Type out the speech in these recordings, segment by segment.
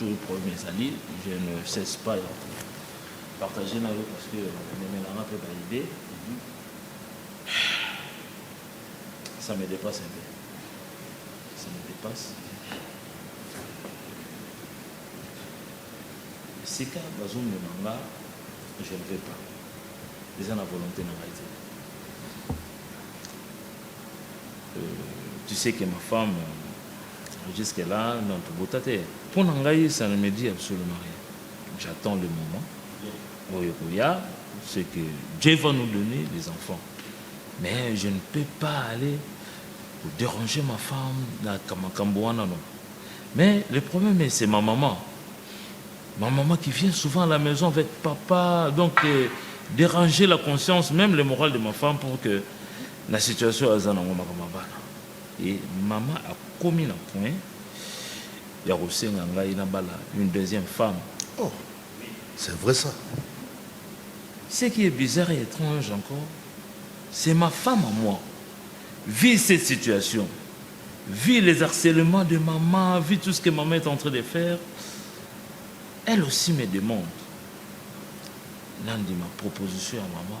Jour problème ezali, je ne cesse pas ya partager na yo parce que omemelanga mpe ba idée ça me dépasse un peu ça me dépasse esika bazomema nga je ne vais pas eza na volonté na ngai te tu sais que ma femme jusque là non tobota te mpo na ngai ça ne me dit absolument rien j'attends le moment oyo koya ce que Dieu va nous donner les enfants mais je ne peux pas aller déranger ma femme na makambo wana non mais le problème c'est ma maman Ma maman qui vient souvent à la maison avec papa, donc euh, déranger la conscience, même le moral de ma femme pour que Na situation oyo aza nango makambo ya bana et mama akomi na point ya kosenga ngai nabala une deuxième femme. Oh! C'est vrai ça? Ce qui est bizarre et etrange encore, c'est ma femme à moi vit cette situation, vit les harcèlements de maman, vit tout ce que maman est en train de faire. Elle aussi me demande nandima proposition ya mama.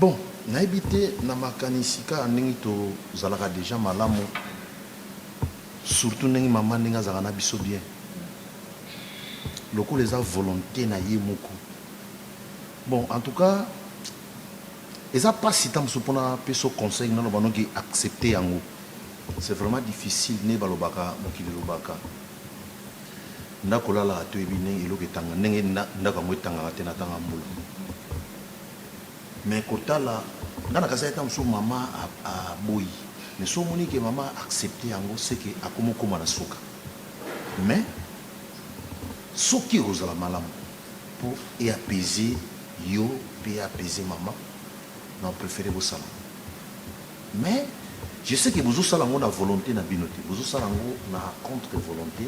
Bon nayebi te na makanisi kaka ndenge tozalaka dejà malamu surtout ndenge maman ndenge azalaka na biso bien lokola eza volonte na ye moko bon en tout cas eza pasi tango mosusu pona pesa yo conseil na loba no ke accepter yango c'est vraiment difficile nde balobaka mokili elobaka ndako olalaka toyebi ndenge eloko etanga ndenge ndako yango etangaka te na tanga mbula. Mais kotala nga na kasai tango mosusu mama aboyi mais soki omoni ke mama a accepte yango ce que akomi okoma na suka mais soki ekozala malamu po e apaiser yo pe e apaiser mama nao prefere bosala yango mais je sais ke bozosala yango na volonte na bino te bozosala yango na contre volonte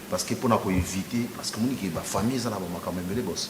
parce que pona ko eviter parce que omoni ke ba famille eza na ba makambo ebele boss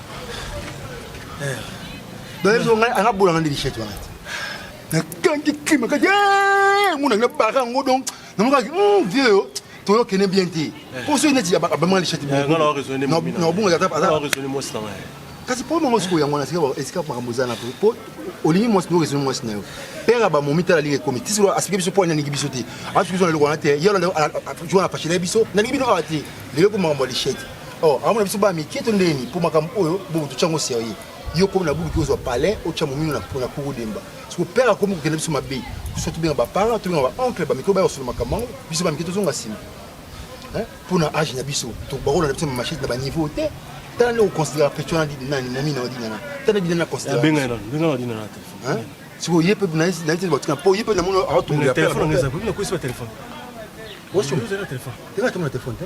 bayezo ngai anga bola ngai ndishete wana nakangi kima kati mona ngai bara yango donc namokaki hmm, vieux yo toyokene bien te eh. po soki neti abamanga lishete eh, nabonga kasi po mango sikoyo yango wana esika makambo eza na po olingi mwasi no resoni mwasi na yo pere bamomi tala lingi ekomi ti sikoyo asiki biso po alingi biso te asuki biso na eloko wana te ye wana afashela biso nalingi bino awa te lelo po makambo ya lishete Oh, amona biso ba mike to ndeni mpo makambo oyo bobo totya yango serieux yo komi na buluki ozwa palais otya momino na pona kuru demba siko père akomi kokende biso mabe so tobenga baparent tobenga baoncle bamike oyo bayosolo makambo yango biso bamike tozonga nsima mpo na age na biso bakola na biso na machete na baniveau te tala nde oconsidera petion na didi nani momi na odinana tala didi nani aconsidera siko ye mpe nayete batika mpo ye mpe namoni aotunga ya père osi oza na telefone te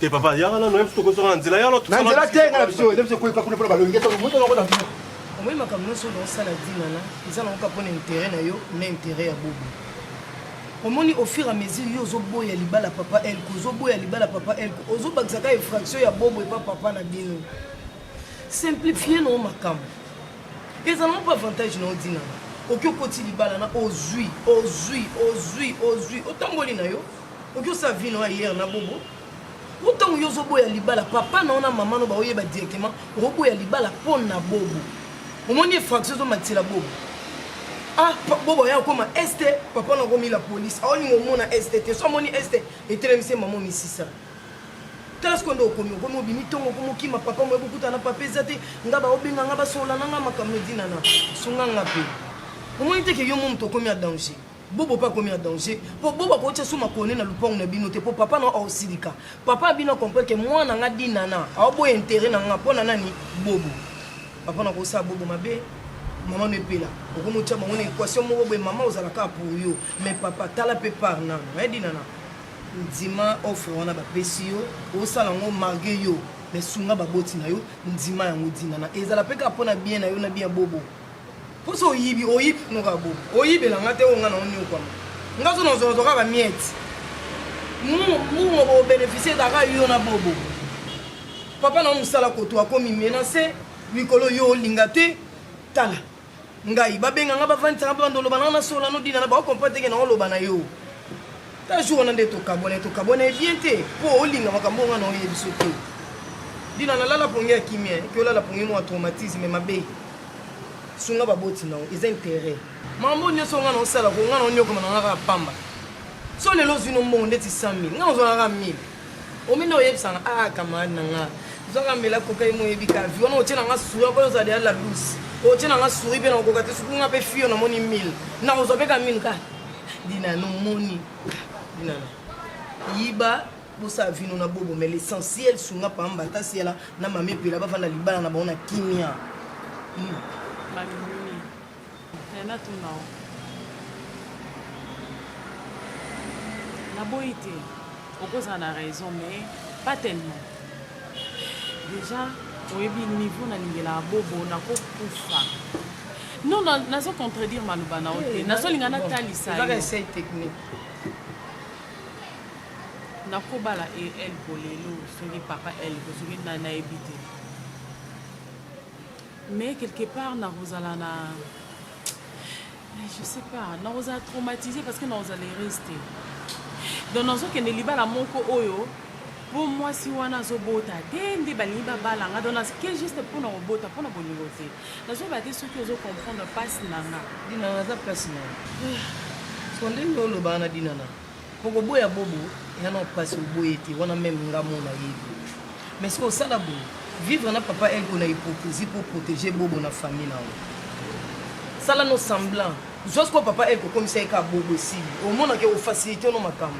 te papa yaka nano ye biso tokozonga na nzela yaka na nzela te nga na biso eza biso ekoyeka kuna mpo na balongi esa moto yango na biso omoi makambo nyonso oyo naosala dinana eza nango kaka mpo na intere na yo na intere ya bobo omoni au fur et à mesure yo ozoboya libala papa elko ozoboya libala papa elko ozobakisa kaka infraction ya bobo epa papa na bino simplifie nao makambo eza nango mpo avantage nao dinana oki okoti libala na ozwi ozwi ozwi ozwi otamboli na yo Oki osa vie na hier na bobo. Ou tango yo zo boya libala papa na ona maman no ba oyeba directement o boya libala pon na bobo. Omoni effraction zo matila bobo. Ah bobo ya koma est papa na komi la police. Aoni ngo mona est te so moni est etelemse maman misisa. tala sikoyo nde okomi okomi obimi ntongo okomi okima papa moye bokutana papa eza te nga baobenga nga basola na nga makambo edinana sunga nga mpe omoni te ke yo mo moto okomi ya danger Bobo pe akomi na danger po Bobo akotia su makone na lupangu na bino te po papa na yo aosilika. Papa na bino acomprendre ke mwana nga Dinana aoboya interet na nga po na nani? Bobo. Papa na kosala Bobo mabe mama no epela okomi otia bango na equation moko boye mama ozala kaka pour yo mais papa tala pe part nano eh Dinana ndima offre wana bapesi yo osala yango marge yo mais sunga baboti na yo ndima yango Dinana ezala pe kaka po na bien na yo na bien ya Bobo. Poso oyibi oyibi noka bo oyibela nga te oyo nga na oniokwama nga zo nazwa nazwa kaka miette mbongo bo beneficie kaka yo na bobo papa na mosala koto akomi menase likolo yo olinga te tala ngai babenga nga bavandisa nga banda oloba nanga nasola nodina na bao comprendre teke na oloba na yo ta jour wana nde tokabwana tokabwana ye bien te mpo olinga makambo nga na oyebiso te dina nalala pongi ya kimia ke olala pongi mwa traumatisme mabe sunga baboti na yo eza interet mambo nyonso nga na osala ko nga na onyokoma na nga kaka pamba so lelo ozwi no mbongo ndeti 100 mille nga ozwaka kaka 1000 ominde oyebisanga a ah, camarade na nga ozwaka mbela koka ye moyebi ka vi wana otie na nga sura mpo ozala deya la douce otie na nga suri mpe nakokoka te soki nga mpe fio namoni 1000 nakozwa mpe ka minu ka dinana omoni dinana yiba bosala vino na bobo mais l'essentiel sunga pamba ata siala na mame epela bavanda libala na bango na kimia natunao naboyi te okozala na raison mais pas tellement déjà oyebi niveau nalingelaka bobo nakokufa non nazo contredire maloba na yo te nazolinga natalisa yo Nako bala e elko lelo soki papa elko soki nani nayebi te mais quelque part nakozala na je sais pas nakozala traumatise parce que nakozala heureuse te donc nazokende libala moko oyo mpo mwasi wana azobota te nde balingi babala nga donc naske juste mpo na kobota mpo na bolingo te nazobala te soki ozo comprendre mpasi na nga dinana aza mpasi na yo eh. so ndenge olobaka na dinana Boko boya bobo ya na pasi oboye te wana meme nga mo na yebi. Mais siko osala boye vivre na papa elko na hypocrisie pour protéger bobo na famille na yo. Sala no semblant. Zwa siko papa elko komisa ye ka bobo esili. Omona ke ofacilite no makambo.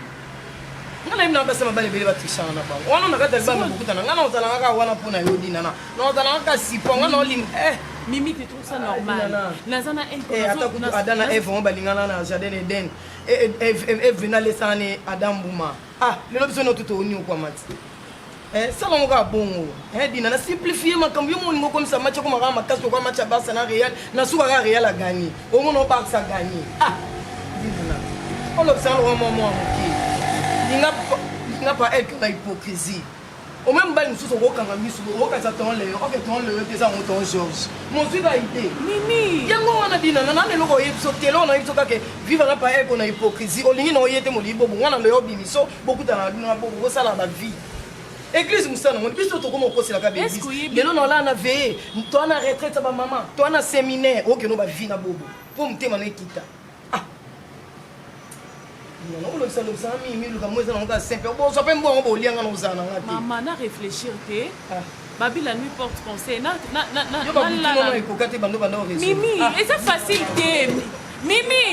Nga na yebi na basi mabale bele batrishana na bango. Wana na kati ya libala bokutana nga na ozala kaka wana mpo na yo dina na. Na ozala kaka sipo nga na olim eh mimi te trouve ça normal naza na elko ata kutu ada na eve ngo balingana na jardin eden eve nalesana ne ada mbuma ah lelo biso notu tooniokwama ti eh, sala yango kaka bongo eh, dina na simplifie makambo yo moningo okomisa match akoma kaka makasi lokola match ya barça na real na suka kaka real aganye omona barça aganye ah dina olobisana lokola mwa mwa moke linga pa elke na hypocrisie Au moins mobali mosusu okokanga misu boye okanisa ton leo oke ton leo te eza yango ton george mozwi ba ide nini yango wana binana nana eloko oyebi biso telo na biso kaka viva na paye kona hypocrisie olingi na oye te molii bobo nga na leo bimiso bokutana na bino na bobo bosala ba vie eglise mosala nango biso tokoma okosela kaka eglise lelo na olaa na veye toa na retraite ya bamama toa na seminaire okeno ba vie na bobo mpo motema na ekita Ah. Yango olobisa lobisa na mimi luka mo eza nango kaka simple bozwa mpe mbongo bolia nga na ozala na nga te mama na réfléchir te ah. babila nuit porte conseil ekoka te bando banda mimi ah. eza facile te mimi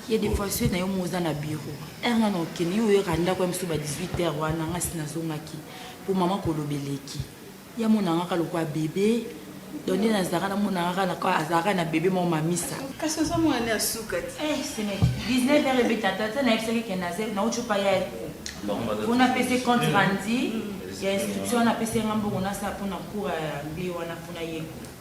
ya devoiture na yo mo oza na bureau heure nga na okende yo oyaka ndako ya mosusu ba 18 heure wana nga si nazongaki mpo mama koloba eleki ya monangaka lokola bebe donde nazalaka na monangaka azalaka na bebe moko mamisa kasi oza mwana ya suka eh, semeki 19 heure ebeta tata nayebisaki ke nauti pa ya mpo napesi compte randi ya instruction wana apesi yanga mbongo nasala mpo na cour ya mbe wana mpo na yeko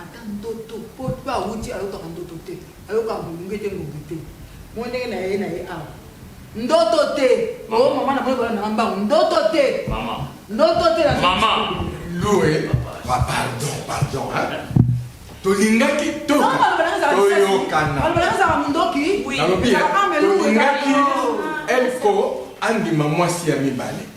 Ata ndoto po pe awuti ayokaka ndoto te ayokaka molunge te ngombe te moi ndenge na ye na ye awa ndoto te o oh, mama na moi bana na mbango ndoto te mama ndoto te na mama loue ba pardon pardon hein tolingaki toyokana nalobi tolingaki elko andima mwasi ya mibale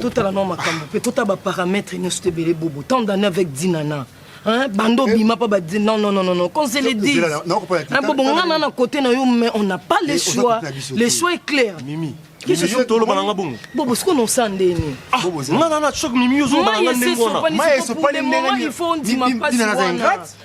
totala nao makambo mpe totala baparametre nyonso te ebele bobo tant d'année avec dinana Hein, bando eh. bima pas dit non non non non non qu'on se le dise hein, bobo nga na na côté na yo mais on n'a pas le eh, choix le choix est clair mimi bobo siko nosa ndeni ah, nga na na choc mimi yo zoloba na nga ndenge wana il faut ondima pasi wana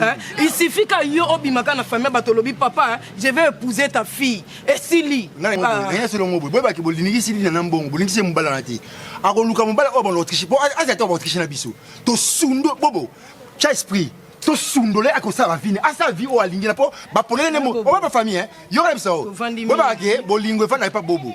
Hein? Il suffit qu'à yo obima kana famille bato lobi papa hein, je vais épouser ta fille et sili naya solo ngobo boye baki bolingi sili na mbongo bolingi se mobala na te akoluka mobala oyo bana autriche po aza te autriche na biso to sundo bobo cha esprit to sundole akosala vini asala vi oyo alingi na po baponele nde oba bafamille hein? yoka na biso oyo boye baki bolingo efandaki pa bobo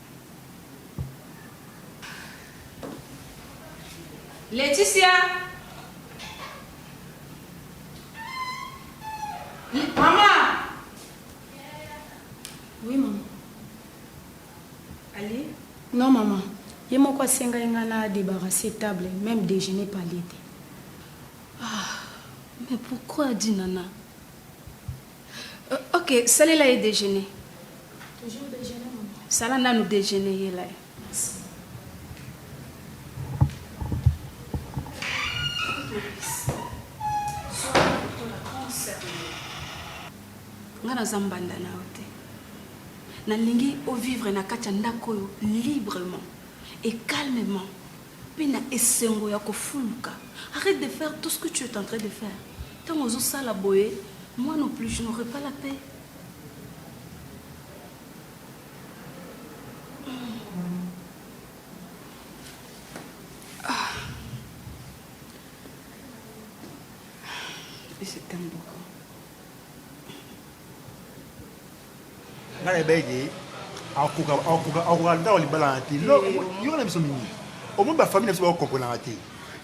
Laetitia Mama Oui mama Ali Non mama ye moko asengai ngai na débarrasser table même déjeuner palie te Ah, mais pourquoi dit Nana Euh, ok, salela ye déjeuner. Toujours déjeuner, maman. Sala nanu déjeuner yela ye. nga naza mbanda na yo te nalingi ovivre na kati ya ndako oyo librement et calmement Pe na esengo ya kofuluka. Arrete de faire tout ce que tu es en train de faire. Tango ozo sala boye, moi non plus je n'aurais pas la paix. Ah. Et c'est un beau nga na yebaki ke akoka akoka akoka ndako libala na te yo na biso mingi omoni bafamille na biso bakokomprenaka te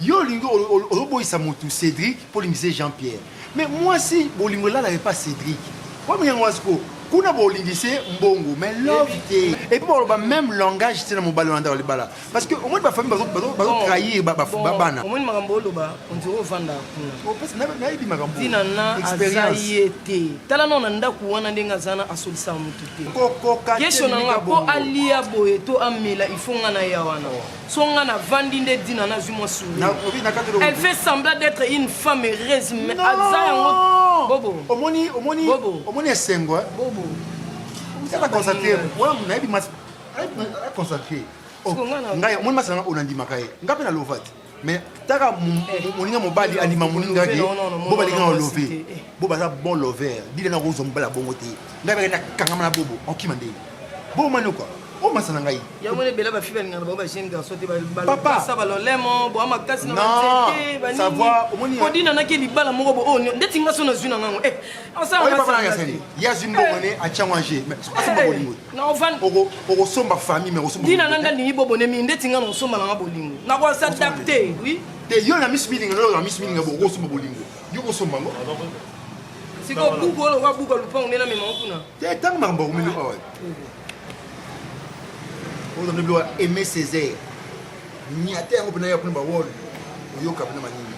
yo olingi ozoboyisa motu cédric mpo olingisa ye jean pierre mais mwasi bolingo elalaka epa cédric oyebi yango mwasi ko kuna bolingise mbongo mais love te epuis baloba même langage te na mobali wana ndako libala Parce que au moins ba famille bazo bazo bazo oh. trahir ba ba bana. Au moins makambo oloba on dirait ovanda kuna. O oh, pesa na na yebi makambo. Tina na azaye te. Tala na ndaku wana ndenga zana asolisa mutu te. Koko ka. Kesho na nga po alia boye to amela ifonga na ya wana. Oh. Songa na vandi nde dina na zuma sou. Na obi na katelo. Elle fait semblant d'être une femme heureuse mais aza yango. Bobo. Omoni omoni omoni esengo. Bobo. Tala constater. Wana na yebi mas consacré oh, ngai omoni masanga oyo nandimaka ye ngai mpe na lova te mais taka eh. moninga mobali andima moninga ke bo balinga na love eh. bo baza bon lover dile na kozwa mobali ya bongo te ngai bakenda kangama na bobo okima ndenge bobo mani okwa o masana ngai yango wana ebela bafi balingana bango bajeune garçon te balopasa balolemo boa makasi naodinanaki libala moko bo oyo oh, ndeti nga so nazwi na ngango eh, ye azwi mbongo ne atyango ange asamba bolingo okosomba famille ntina na nga ndingi bobone mingi ndeti nga na osomba na nga bolingo nakosadapte oui te yo na miss milinga yo na miss milinga bokosomba bolingo yo kosomba ngo sikoyo buku oyo lokola buku ya lupango nde namema kuna te ntango makambo akomeli awa oyo zamde biloko aime césaire niata yango mpena ya kuna bawol oyoka mpena manini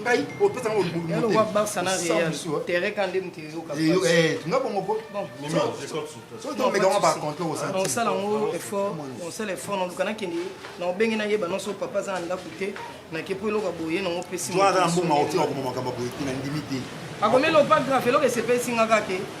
ngai opesa ngo mbulu yalo wa barça na real terrain kan dem te yoka eh nga bongo po so to mega ngo par contre au centre on sala ngo effort on sala effort na lukana kende na obenge na yeba non so papa za nda kute na ke po eloka boye na ngo pesi mo na mbuma otia ko makambo boye kuna ndimi te akomelo pas grave eloka sepesi nga kake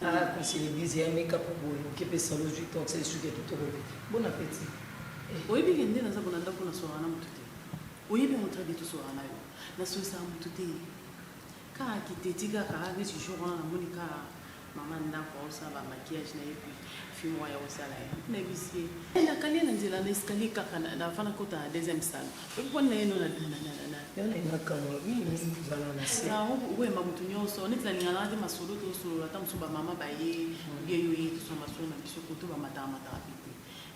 Ah, kasi l'église ya meka po boye oke pe salo zwi to akisa lisuki ya kitoko te bon appétit eh. oyebi ke nde naza kolanda mpo nasolaka na motu te oyebi yango très bien tosolaka na yo nasolisaka motu te kaka kiteti kaka neti jour wana namoni kaka mama ndako aosala bamaquillage na ye puis fille moko ya kosala ye nayebisi ye eh, nakali ye na nzela na escalier kaka nafana kota na deuxième salle oyemba motu nyonso neti nalinganaka te masolo tosolola ata mosusu bamama baye bie yo ye tosona masolo na biso koto bamataka mataka mpe te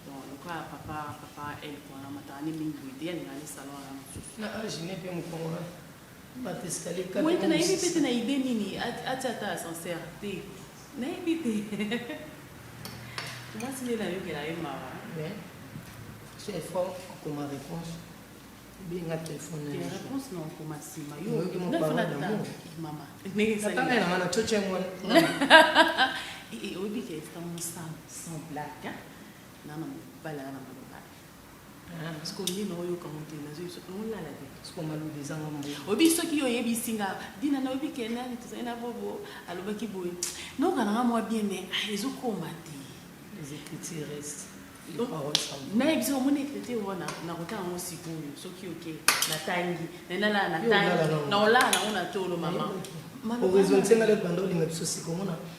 donc lokola papa papa elk wana mataka nde mingi boye te alinga ne salon wana mosusu na age ne mpe mokongona Boye te nayebi mpe te na idee nini atia ata ascenseur te nayebi te mwasi nde nayokela ye mawa so effort okoma réponse obenga telefone réponse na okoma nsima yomama ndenge esalinanga na coca yango oyebi ke esta mosano sans blague nana mobali aa na maloba oyebi soki yo oyebisi nga dina nayebi ke nani tozali na bobo alobaki boye nayoka nanga mwa bien mai ah, ezokoma te nayebi soki omoni ekrite wana nakotala yango sikoyo soki oke natangi nalala natangi naolala nango na tolo mama orezontengala ebanda olinga biso sika omona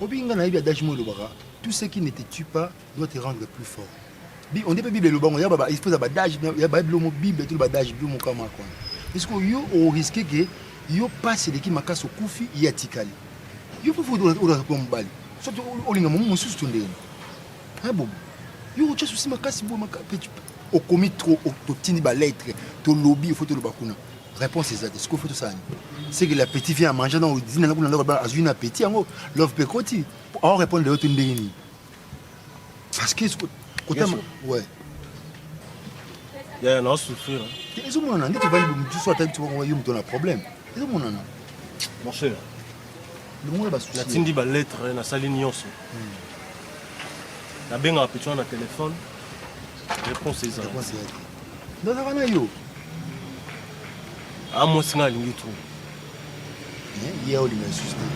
obinga nayebi adage mo elobaka tout ce qui ne te tue pas doit te rendre plus fort on dit mpe bible eloba ngo ya espèce ya badage ya baebilo mo bible to badage bilo mokama kwana eske yo oriske ke yo mpasi eleki makasi okufi ye atikali yo mpe olaka kuya mobali soki olinga momo mosusu to ndenge na bobo yo otya susi makasi boye makasi okomi trop totindi ba lettre tolobi ifo toloba kuna réponse eza te sikoyo fo tosala nini seke la petit vient amangea na odina na kuna ndako bana azwi na petit yango love mpe ekoti ao répondre lelo to ndenge nini parce que kotama ouais yaya na osouffrir ezomonana nde tovandi mosusu atali yo moto na problème ezomonana mon cher natindi baletre nasali nyonso hmm. nabengaka petit wana na telefone réponse ezala nazaka na yo a ah, mwasi ngai alingi trop eh, ye olinga lisusu te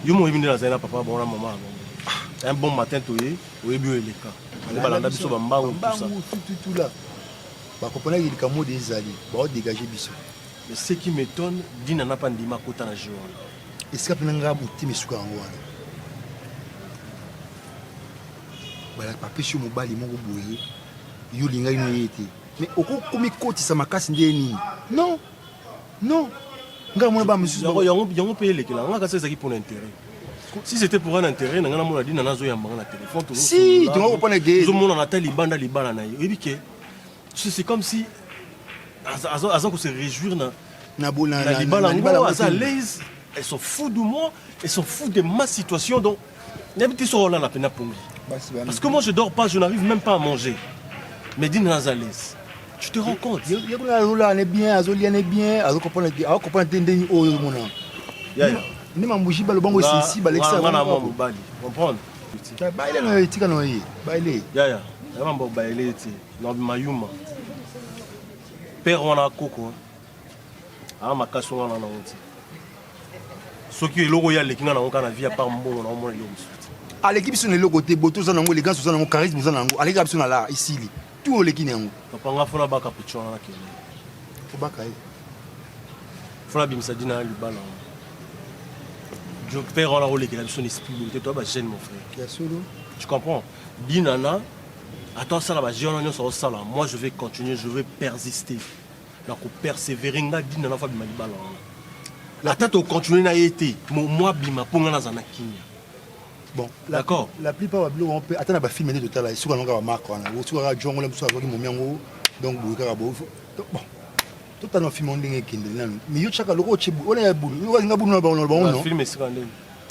yo moyebi nde nazali na papa bango na mama yango ah. un bon matin toye oyebi oyo eleka nde balanda biso bambangu tututula bakopanaki likambo de ezali baodegage biso Mais ce qui m'etonne, Dina n'a pas ndima kota na jeu wana. Esika pena nga buti misuka yango wana. Bala papesi yo mobali moko boye. Yo linga ino ye te. Mais oko komi kotisa makasi nde nini? Non. Non. Nga mona ba misusu yango yango yango pe elekela nga kasi ezaki pour l'intérêt. Si c'était pour un intérêt, nanga na mona Dina nazo yamba na téléphone. Si, tu vas comprendre que. Zo mona na tali banda libala na ye. Oyebi ke Tu sais, c'est comme si aza, aza, aza ko se réjouir na, na, bo, na, na, na libala yango, aza laise, elle s'en fout de moi, elle s'en fout de ma situation, donc nayebi te soki olala mpe na pongi. Parce que moi je dors pas, je n'arrive même pas à manger. Mais dis-nous aza laise. Tu te rends compte Ye kuna alola ne bien, azolia ne bien, azokopona te, akopona te ndenge oyo omona. Yaya. Nde mambuji balo bango esisi balekisa. Ngana mwa mobali, comprendre? Baile na yo etika na yo ye, baile. Yaya, yaba mbo baile ete. Nabima yuma. Père wana koko. Ah makasi wana na honte. Soki eloko ya leki na na honte na vie à part mbongo na omona eloko mosusu. aleki biso na eloko te boto oza nango elegance oza nango charisme oza nango aleki biso na la esili tu oleki na yango papa nga fona baka picho wana kende obaka ye fona bimisa dina ya libala je père wana olekela biso na esprit boye te toya ba jeune mon frère ya solo tu comprends Dinana ata osala ba jeux wana nionso aosala moi je vais continuer je vais persister na ko perseverer nga dinana fa bima libala wana ata to continuer na ye te moi bima mpo nga nazala na kimia bon d'accord la plupart ba biloko mpe ata na ba film nde totala esuka nango kaka marque wana osuka kaka jongo la mosusu azwaki momi yango donc boye kaka bo bon totala film yango ndenge ekende nanu mais yo tyaka loko otye wana ya bulu olinga bulu na bango na bango no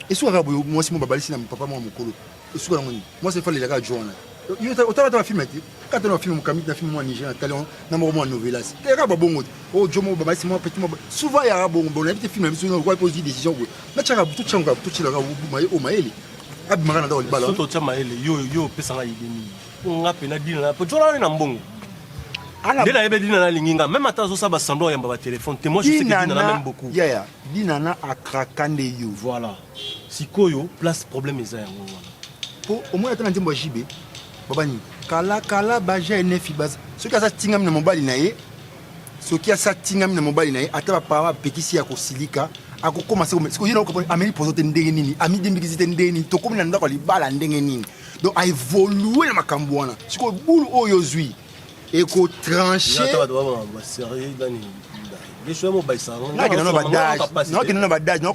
esuka kaka boye mwasi mo babalisi na papa mwa mokolo Esuka yango nini? Moi c'est fallait la kaka joana. Yo otala ta film te. Kata na film mokambi na film moi Niger na talent na moko moi novelas. Te kaka bongo. Oh jomo baba c'est moi petit moi. Souvent ya bongo bon na film biso na ko poser décision ko. Na chaka butu changa butu chila ka maye o mayele. Abi mangana da olibala. Soto cha mayele yo yo pesa nga idée nini? Nga pe na dina na po joana na mbongo. nde nayebi dina nalingi nga meme ata azosala basemblant oyamba batelefone te moi je sais que dina na meme beaucoup yaya dina na akraka nde yo voilà sikoyo place problème eza yango wana po omoni ata na nzembo ya jibe babani kalakala baja enefi baza soki aza tingami na mobali na ye soki asi atingami na mobali na ye ata bapara bapekisi ya kosilika akokoma sikoye ameli pozo te ndenge nini amidembikisi te ndenge nini tokomi na ndako ya libala ndenge nini donc aevolue na makambo wana sikoyo bulu oyo ozwi eko tranche nakenda na badage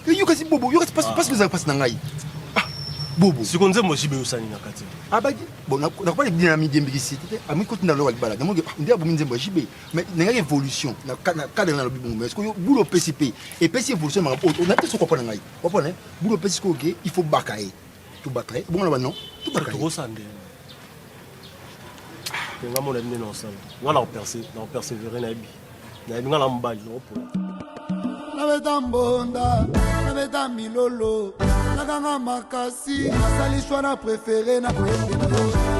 yokasi bobo yokasi mpasi kozala mpasi na ngai bobo siko nzembo jibe yosani na kati abaki bon nakoba libina na midembikisi te ami koti na loba libala namonge nde abomi nzembo ya jibe mais nangaki évolution na cadre na lobi bongo mais sikoyo bula opesi mpe epesi évolution makambo oyo na te soko wapona ngai wapona bula opesi sikoyo ke il faut baka ye Tubaka, ebongo na bano, tubaka. Tokosa nde. Nga mona nde na osala. Nga na operse, na opersevere na ebi. Na ebi nga na mobali, na opola. Na beta mbonda, na beta milolo, na ganga makasi, na sali choix na prefere na koyembe na yo.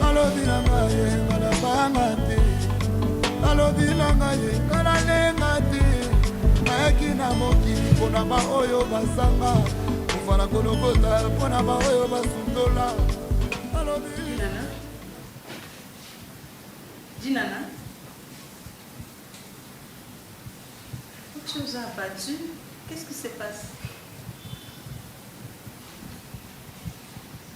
Balobi na nga ye nga na banga te Balobi na nga ye nga na lenga te Nayaki na mokili mpo na baoyo bazanga Kufa na kolokota mpo na baoyo basundola Balobi Dinana Dinana Tu nous as abattu Qu'est-ce qui se passe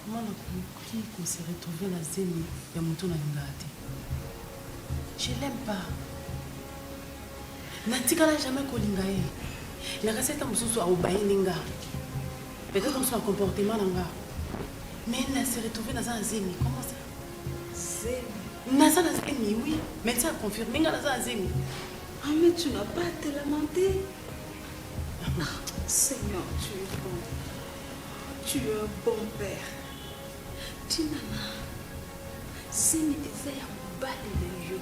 Comment nakoki ko se retrouver na zemi ya moto nalingaka te je l'aime pas natikala jamais kolinga ye nakasi ata mosusu aobayini nga peut-être mosusu na comportement na nga mais na se retrouver naza na zemi comment ça zemi naza na zemi oui médecin aconfirme nga naza na zemi ame ah, tu n'as pas te lamenter Seigneur, tu es bon. Tu es un bon père. Tinana, zemi eza ya mobali na yo.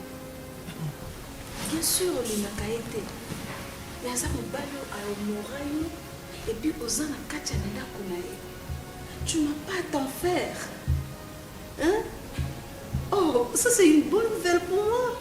Bien sûr, olingaka ye te. Mais aza mobali oyo ayomora yo epuis oza na kati ya ndako na ye. Tu n'as pas à t'en faire. Hein? Oh, ça c'est une bonne nouvelle pour moi.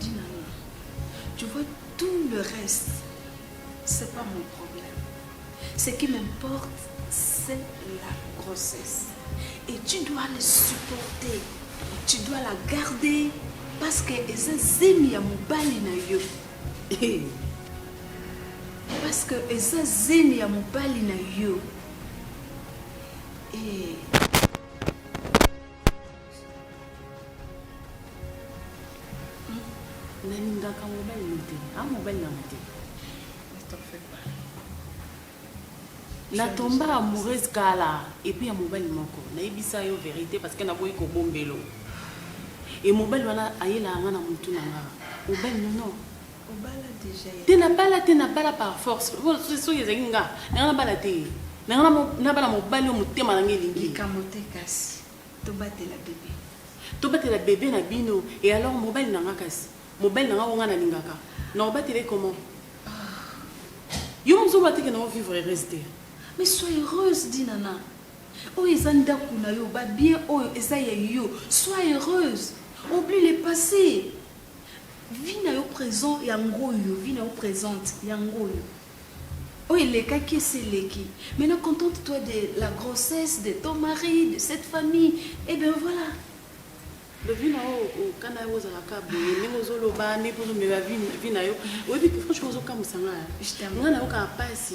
Dinana, tu vois tout le reste, c'est pas mon problème. Ce qui m'importe, c'est la grossesse. Et tu dois le supporter. Tu dois la garder parce que eza zemi ya mobali na yo. Eh. Parce que eza zemi ya mobali na yo. Et eh. nalingaka mobali no te a mobali nanga te natomba amoureuse kala epuis ya mobali moko nayebisa yo verité parce que naboyi kobombelo e mobali wana ayelaka nga na motu na nga mobali nono te nabala te nabala par force soki ezali nga nanga nabala te nanga nabala mobali oyo motema nanga elingi Tobatela bebe. Tobatela bebe na bino et alors mobali na nga kasi? Mobali na nga oyo nga na lingaka nako batela ye comment? Ahh. Yo moko ozo loba te que nao vivre heureuse te? Mais sois heureuse Dinana. Oyo eza ndaku na yo, ba biens oyo eza ya yo. Sois heureuse. Oublie le passe. Vie na yo present yango oyo, vie na yo presente yango oyo. Oyo elekaki esi eleki maintenant contente toi de la grossesse de ton mari de cette famille et eh bien voilà Lovina oyo oh, okana oh, yango ozalaka boye ndenge ozoloba ndenge mpo ozomema vi na yo oyebi franchement ozokamwisa ngai ngai nayokaka mpasi